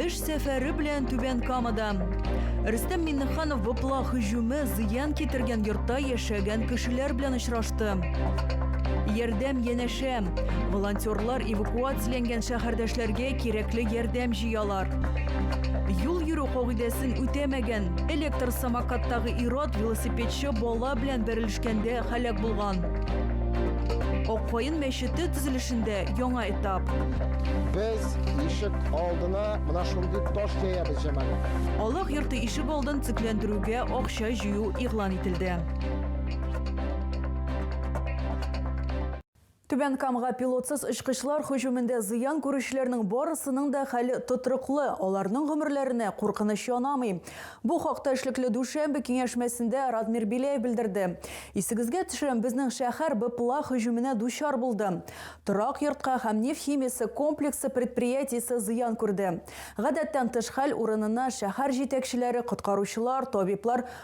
Эш сәфәре белән Түбән Камада. Рөстәм Миннеханов вопла һөҗүме зыян китергән йортта яшәгән кешеләр белән очрашты. Ярдәм янәшә. Волонтерлар эвакуацияләнгән шәһәрдәшләргә кирәкле ярдәм җыялар. Юл йөрү кагыйдәсен үтәмәгән, электр самокаттагы ир-ат велосипедчы бала белән бәрелешкәндә һәлак булган. Ак каен мәчете төзелешендә яңа этап. Без ишек алдына менә шундый таш җәябез, Җамал. Аллаһ йорты ишек алдын төзекләндерүгә акча җыю игълан ителде. Түбән Камга пилотсыз очкычлар һөҗүмендә зыян күрүчеләрнең барысының да хәле тотрыклы, аларның гомерләренә куркыныч янамый. Бу хакта эшлекле дүшәмбе киңәшмәсендә Радмир Беляев белдерде. Исегезгә төшерәм, безнең шәһәр БПЛА һөҗүменә дучар булды. Торак йортка һәм нефть химиясе комплексы предприятиесе зыян күрде. Гадәттән тыш хәл урынына шәһәр җитәкчеләре, коткаручылар, табиблар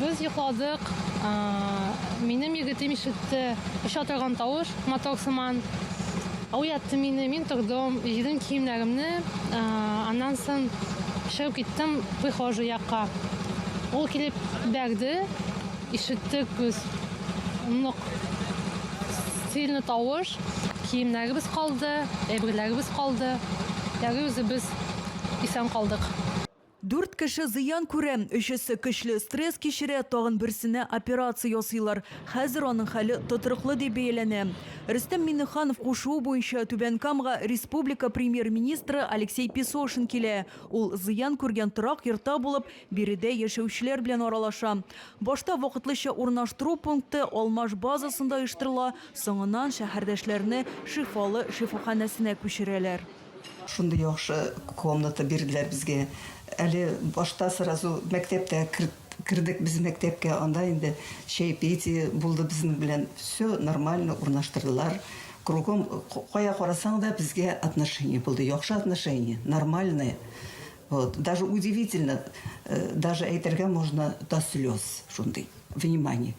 Без йокладык. Минем егетем ишетте оча торган тавыш, мотор сыман. Уятты мине, мин тордым, җыйдым киемнәремне, аннан соң чыгып киттем прихожий якка. Ул килеп бәрде, ишеттек без нык сильный тавыш, киемнәребез калды, әйберләребез калды, әле үзебез исән калдык. Дүрт кеше зыян күрә, өчесе көчле стресс кичерә, тагын берсенә операция ясыйлар. Хәзер аның хәле тотрыклы дип бәяләнә. Рөстәм Миңнеханов кушуы буенча Түбән Камга республика Премьер-министры Алексей Песошин килә. Ул зыян күргән торак йортта булып, биредә яшәүчеләр белән аралаша. Башта вакытлыча урнаштыру пункты Алмаш базасында оештырыла, соңыннан шәһәрдәшләрне Шифалы шифаханәсенә күчерәләр. Шундый яхшы комната бирделәр безгә. Әле башта сразу мәктәптә кердек без мәктәпкә, анда инде чәйпетие булды безнең белән, всё нормально урнаштырдылар. Кругом кая карасаң да безгә отношение булды, яхшы отношение, нормальное. Вот, даже удивительно, даже әйтергә можно до слез, шундый внимание.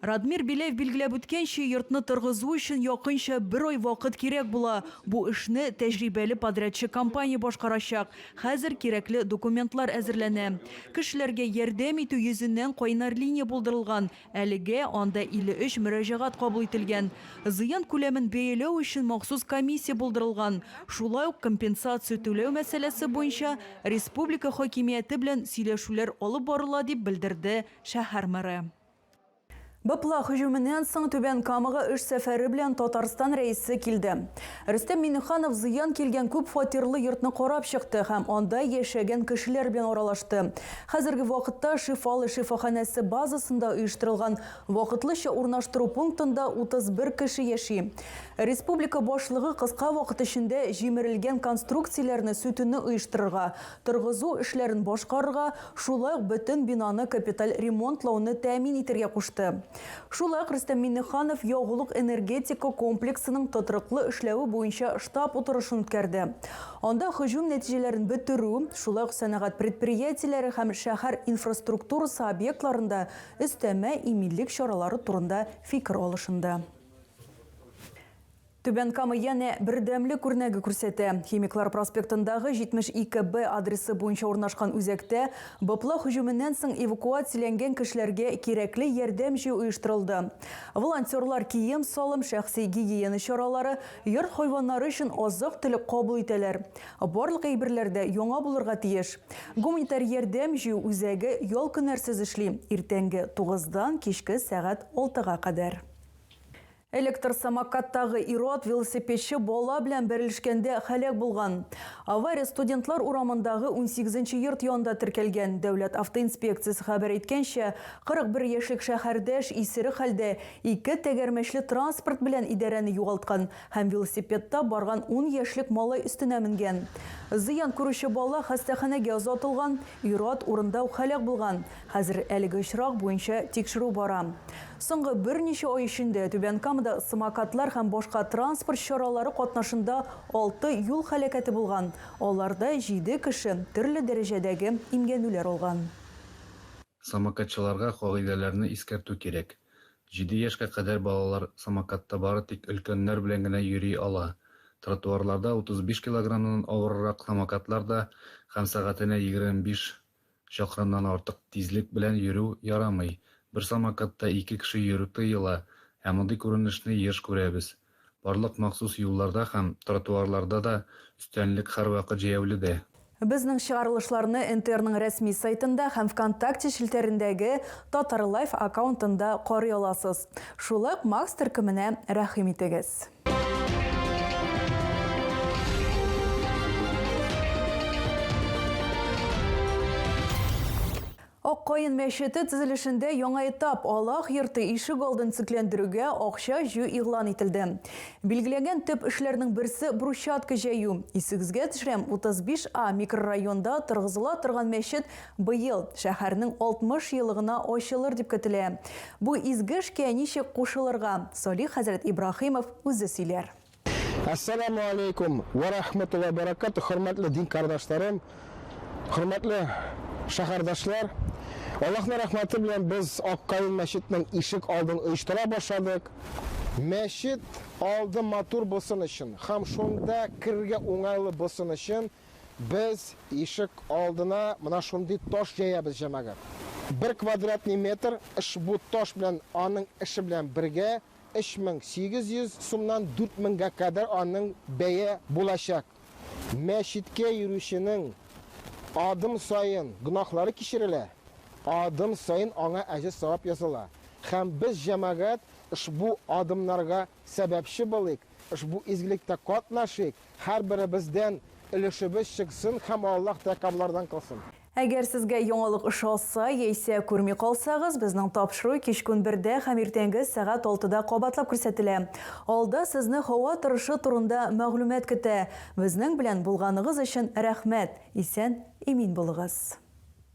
Радмир Беляев билгеләп үткәнчә, йортны торгызу өчен якынча бер ай вакыт кирәк була. Бу эшне тәҗрибәле подрядчы компания башкарачак. Хәзер кирәкле документлар әзерләнә. Кешеләргә ярдәм итү йөзеннән кайнар линия булдырылган. Әлегә анда 53 мөрәҗәгать кабул ителгән. Зыян күләмен бәяләү өчен махсус комиссия булдырылган. Шулай ук компенсация түләү мәсьәләсе буенча республика хакимияте белән сөйләшүләр алып барыла, дип белдерде шәһәр мэры. Быпла һөҗүменнән соң Түбән Камага эш сәфәре белән Татарстан Рәисе килде. Рөстәм Миңнеханов зыян килгән күп фатирлы йортны карап чыкты һәм анда яшәгән кешеләр белән аралашты. Хәзерге вакытта Шифалы шифаханәсе базасында оештырылган вакытлыча урнаштыру пунктында 31 кеше яши. Республика башлыгы кыска вакыт эчендә җимерелгән конструкцияләрне сүтүне оештырырга, торгызу эшләрен башкарырга, шулай ук бөтен бинаны капиталь ремонтлауны тәэмин итәргә кушты. Шулай ук Рөстәм Миңнеханов ягулык-энергетика комплексының тотрыклы эшләве буенча штаб утырышын үткәрде. Анда һөҗүм нәтиҗәләрен бетерү, шулай ук сәнәгать предприятиеләре һәм шәһәр инфраструктурасы объектларында өстәмә иминлек чаралары турында фикер алышынды. Түбән Кама янә бердәмлек күрнәге күрсәтә. Химиклар проспектындагы 72 Б адресы буенча урнашкан үзәктә БПЛА һөҗүменнән соң эвакуацияләнгән кешеләргә кирәкле ярдәм җыю оештырылды. Волонтерлар кием-салым, шәхси гигиена чаралары, йорт хайваннары өчен азык-төлек кабул итәләр. Барлык әйберләр дә яңа булырга тиеш. Гуманитар ярдәм җыю үзәге ял-көннәрсез эшли, иртәнге тугыздан кичке сәгать алтыга кадәр. Электр самокаттагы ир-ат велосипедчы бала белән бәрелешкәндә һәлак булган. Авария Студентлар урамындагы унсигезенче йорт янында теркәлгән. Дәүләт автоинспекциясе хәбәр иткәнчә, 41 яшьлек шәһәрдәш исерек хәлдә ике тәгәрмәчле транспорт белән идарәне югалткан һәм велосипедта барган ун яшьлек малай өстенә менгән. Зыян күрүче бала хастаханәгә озатылган, ир-ат урында ук һәлак булган. Хәзер әлеге очрак буенча тикшерү бара. Соңгы берничә ай эчендә Түбән Камада самокатлар һәм башка транспорт чаралары катнашында алты юл һәлакәте булган, аларда җиде кеше төрле дәрәҗәдәге имгәнүләр алган. Самокатчыларга кагыйдәләрне искәртү кирәк. Җиде яшькә кадәр балалар самокатта бары тик өлкәннәр белән генә йөри ала. Тротуарларда 35 килограммнан авыррак самокатлар да һәм сәгатенә 25 Чакрымнан артык тизлек белән йөрү ярамый. Бер самокатта ике кеше йөрү тыела, ә мондый күренешне еш күрәбез. Барлык махсус юлларда һәм тротуарларда да өстәнлек һәрвакыт җәяүледә. Безнең чыгарылышларны НТРның рәсми сайтында һәм Вконтакте челтәрендәге Татарлайф аккаунтында карый аласыз. Шулай ук Макс төркеменә рәхим итегез. Аккаен мәчете төзелешендә яңа этап Аллах йорты ишек алдын төзекләндерүгә акча җыю игълан ителде. Билгеләнгән төп эшләрнең берсе брусчатка җәю. Исегезгә төшерәм, 35 А микрорайонда торгызыла торган мәчет Быел шәһәрнең 60 елыгына ачылыр дип көтелә. Бу изге эшкә ничек кушылырга, Салих хәзрәт Ибраһимов үзе сөйләр. Әссәламү аләйкүм вә рәхмәтуллаһи вә бәрәкәтүһ, хөрмәтле дин кардашларым, хөрмәтле шәһәрдәшләр! Аллаһның рәхмәте белән без Ак Каен мәчетнең ишек алдын оештыра башладык. Мәчет алды матур булсын өчен һәм шунда керергә уңайлы булсын өчен Без ишек алдына менә шундый таш җәябез, җәмәгать. Бер квадратный метр ошбу таш белән аның эше белән бергә 3800 сумнан 4000гә кадәр аның бәя булачак. Мәчеткә йөрүченең адым саен гөнаһлары кичерелә, адым саен аңа әҗер-савап языла. Һәм без, җәмәгать, ошбу адымнарга сәбәпче булыйк, ошбу изгелектә катнашыйк, Һәрберебездән өлешебез чыксын һәм Аллаһ тәкәббарлардан кылсын. Әгәр сезгә яңалык ошаса яисә күрми калсагыз, безнең тапшыру кичкүн бердә һәм иртәнге сәгать алтыда кабатлап күрсәтелә. Алда сезне һава торышы турында мәгълүмат көтә. Безнең белән булганыгыз өчен рәхмәт! Исән-имин булыгыз!